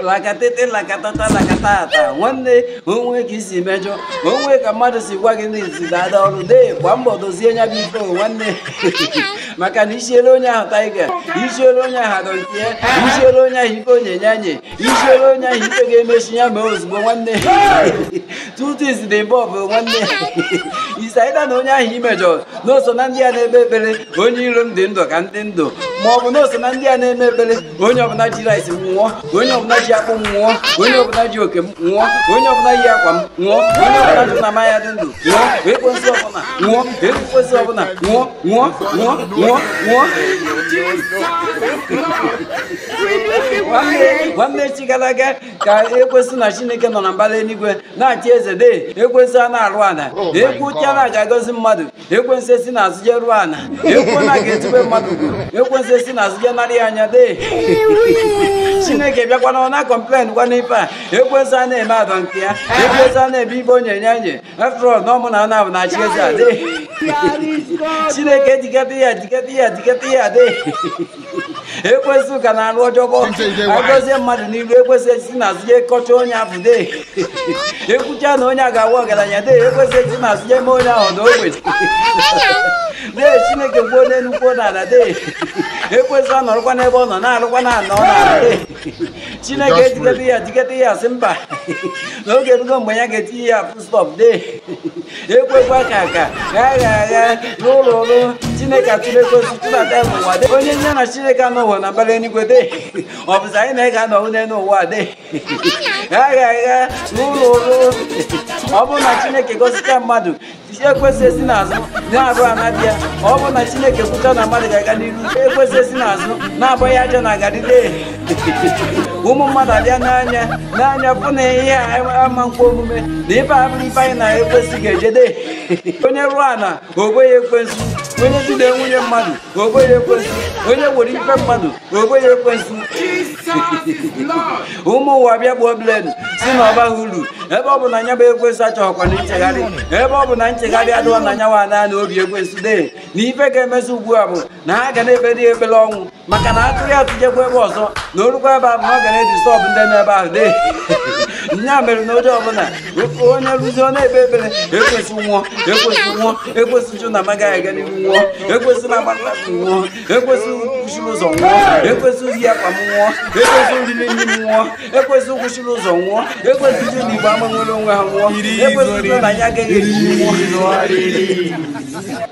lakatete lakatata lakatata nwanne o nwee ka i si mejọ o nwee ka mmadụ si gwa gị n'izi dada ọrụ dee gba mbọ dozie nya bụ ife nwanne maka na i siere onye ahụ tiger i siere onye ahụ I don't care i siere onye ahụ ife onyenye anyị i siere onye ahụ ife ga-emechi ya mee ozugbo nwanne tutu isi dị mba ọbụ nwanne isaida na onye ahụ i mejọ na o so na ndị a na-eme ekpere onye iro m dị ndụ ka m dị ndụ ma ọ bụ na o so na ndị a na-eme ekpere onye ọbụla ji rice m nwụọ onye ọbụla ji akpụ m nwụọ onye ọbụla ji oke m nwụọ onye ọbụla yi akwa m nwụọ onye ọbụla sị na m aya dị ndụ nwụọ ekwensu ọbụla nwụọ ekwensu ọbụla nwụọ nwụọ nwụọ nwụọ nwụọ Nwanne- nwanne echi gara aga ka ekwensu na chineke nọ na mbara eluigwe na-achị eze dee ekwensu ana-arụ ala e kwucha na a ga-agọzi mmadụ ekwensu esi n'azụ je rụọ ana e kwuo na a ga-etube mmadụ ugo ekwensu esi n'azụ je narị ya nya dee chineke bịakwa na a na-complain kwa n'ife a ekwensu ana-eme I don't care ekwensu ana-eme ife onye nye nye after all na ọ mụ na nna bu na-achị eze a dee chineke diketa ya diketa ya diketa ya dee ekwensu ka na-arụ ọjọọ ọ bụ a gọzie mmadụ n'iru ekwensu esi n'azụ jee kọcha onye afụ dee e kwucha na onye a ga-aba ọgaranya dee ekwensu esi n'azụ jee mee onye ahụ nwa ogbenye dee chineke kwuo n'elu kwuo n'ala dee ekwensu anọrọkwa n'ebe ọ nọ na-arụkwa ana n'ala dee chineke ediketa ya diketa ya sị mba na oge erugo mgbe ya ga-etinye ya full stop dee ekwekwa ka ka ka a gha agha n'ụlọ ọrụ chineke atụlie ekwensu tụbata ya n'ụwa dee onye nye na chineke anọghị na mbara eluigwe dee ọ bụzi anyị na ya ga-anọ onye n'ụwa dee ka a gha agha n'ụlọ ọrụ ọ bụrụ na chineke gọzicha mmadụ ekwensu esi n'azụ na-arụ ana dee ọ bụrụ na chineke kwucha na mmadụ ga-aga n'iru ekwensu esi n'azụ na-abọ ya aja na garri dee ụmụ mmadụ abịa nee anya nee anya fụ na ihe a ama ekwe omume na ife a bụrụ ife anyị na ekwensu ga-eje dee onye rụọ ana o bo ya ekwensu onye jide nwunye mmadụ o bo ya ekwensu onye were ife mmadụ o bo ya ekwensu ụmụ ụwa bịa kwuo plain sị na ọ bahọ uru ebe ọ bụ na nya bụ ekwensu achọghịkwa na nchegharị ebe ọ bụ na nchegharị adịghọ na nya nwa na n'obi ekwensu dee na ife ga-emezi ugbu a bụ na ha ga na-ekpezi ekpere ọnwụ maka na a tụrụ ya tụjekwa ebe ọzọ na o rukwa ebe ahụ na ọ ga na-disturb ndị nọ ebe ahụ dee nya mere na onye ọbụla onye rụzi ọ na-ekpe ekpere ekwensu nwụọ ekwensu nwụọ ekwensu sị na amaghị aga n'ihu nwụọ ekwensu na agbatakwụ nwụọ ekwensu kwụchiri ụzọ nwụọ ekwensu ji akwa m nwụọ ekwensu ji nri m nwụọ ekwensu kwụchiri ụzọ nwụọ ekwensu sị na igbo ama nwere onwe ha nwụọ ekwensu na ya agaghị eri nwụọ